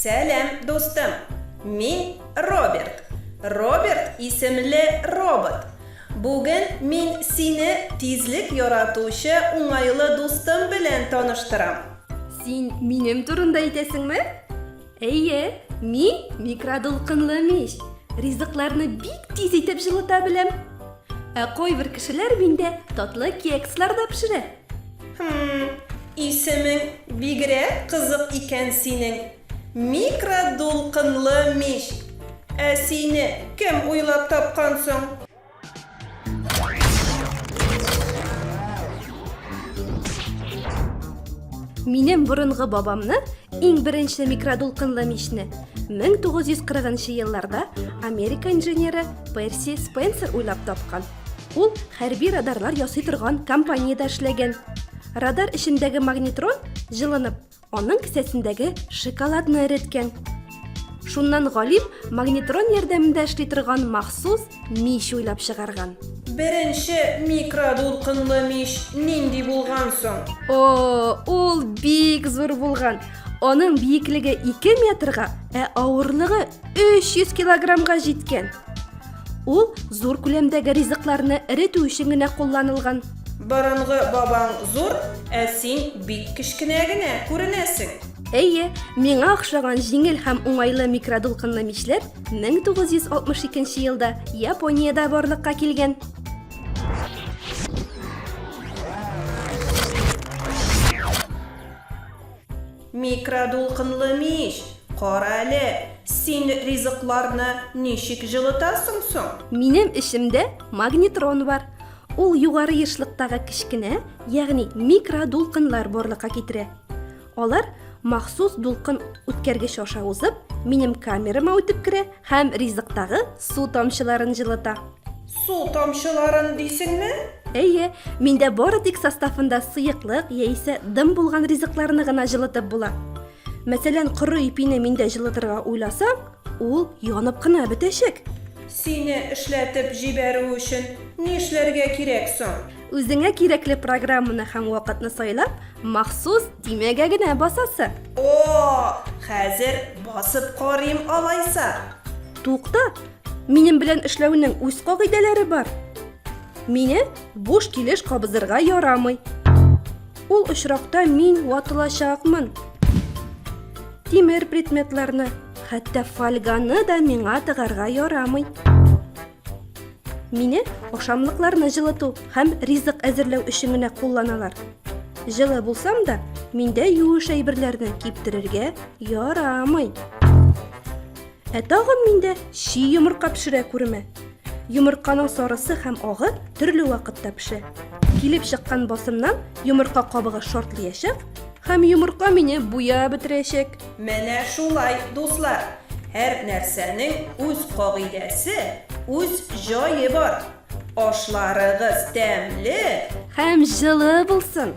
Сәлам, дустым! Мин Роберт. Роберт исемле робот. Бүген мин сине тизлек яратучы уңайлы дустым белән таныштырам. Син минем турында әйтәсеңме? Әйе, мин микродулкынлы мич. Ризыкларны бик тиз итеп җылыта беләм. Ә кайбер кешеләр миндә татлы кекслар да пешерә. Хм, исемең бигрәк кызык икән синең. Микродулкынлы мич. Ә сине кем уйлап тапкан соң? Минем борынгы бабамны иң беренче микродулкынлы мичне 1940 елларда Америка инженеры Перси Спенсер уйлап тапкан. Ул хәрби радарлар ясый торган компаниядә эшләгән. Радар эчендәге магнитрон җылынып, Аның кесәсендәге шоколадны эреткән. Шуннан галим магнитрон ярдәмендә эшли торган махсус мич уйлап чыгарган. Беренче микродулкынлы мич нинди булган соң? О, ул бик зур булган. Аның биеклеге 2 метрга, ә авырлыгы 300 килограммга җиткән. Ул зур күләмдәге ризыкларны эретү өчен генә кулланылган. Борынгы бабаң зур, ә син бик кечкенә генә күренәсең. Әйе, миңа охшаган җиңел һәм уңайлы микродулкынлы мичләр 1962 елда Япониядә барлыкка килгән. Микродулкынлы мич! Кара әле, син ризыкларны ничек җылытасың соң? Минем эчемдә магнетрон бар. Ул югары ешлыктагы кечкенә, ягъни микродулкыннар барлыкка китерә. Алар махсус дулкын үткәргеч аша узып, минем камерама үтеп керә һәм ризыктагы су тамчыларын җылыта. Су тамчыларын дисеңме? Әйе, миндә бары тик составында сыеклык яисә дым булган ризыкларны гына җылытып була. Мәсәлән, коры ипине миндә җылытырга уйласаң, ул янып кына бетәчәк. Сине эшләтеп җибәрү өчен нишләргә кирәк соң? Үзеңә кирәкле программаны һәм вакытны сайлап, махсус төймәгә генә басасы. О, хәзер басып карыйм алайса. Тукта, Минем белән эшләүнең үз кагыйдәләре бар. Мине буш килеш кабызырга ярамый. Ул очракта мин ватылачакмын. Тимер предметларны, хәтта фольганы да миңа тыгарга ярамый. Мине ашамлыкларны җылыту һәм ризык әзерләү өчен генә кулланалар. Җылы булсам да, миндә юеш әйберләрне киптерергә ярамый. Ә тагын миндә чи йомырка пешерә күремә. Йомырканың сарысы һәм агы төрле вакытта пешә. Килеп чыккан басымнан йомырка кабыгы шартлыячак һәм йомырка мине буяп бетерәчәк. Менә шулай, дуслар. Һәр нәрсәнең үз кагыйдәсе, үз җае бар. Ашларыгыз тәмле һәм җылы булсын!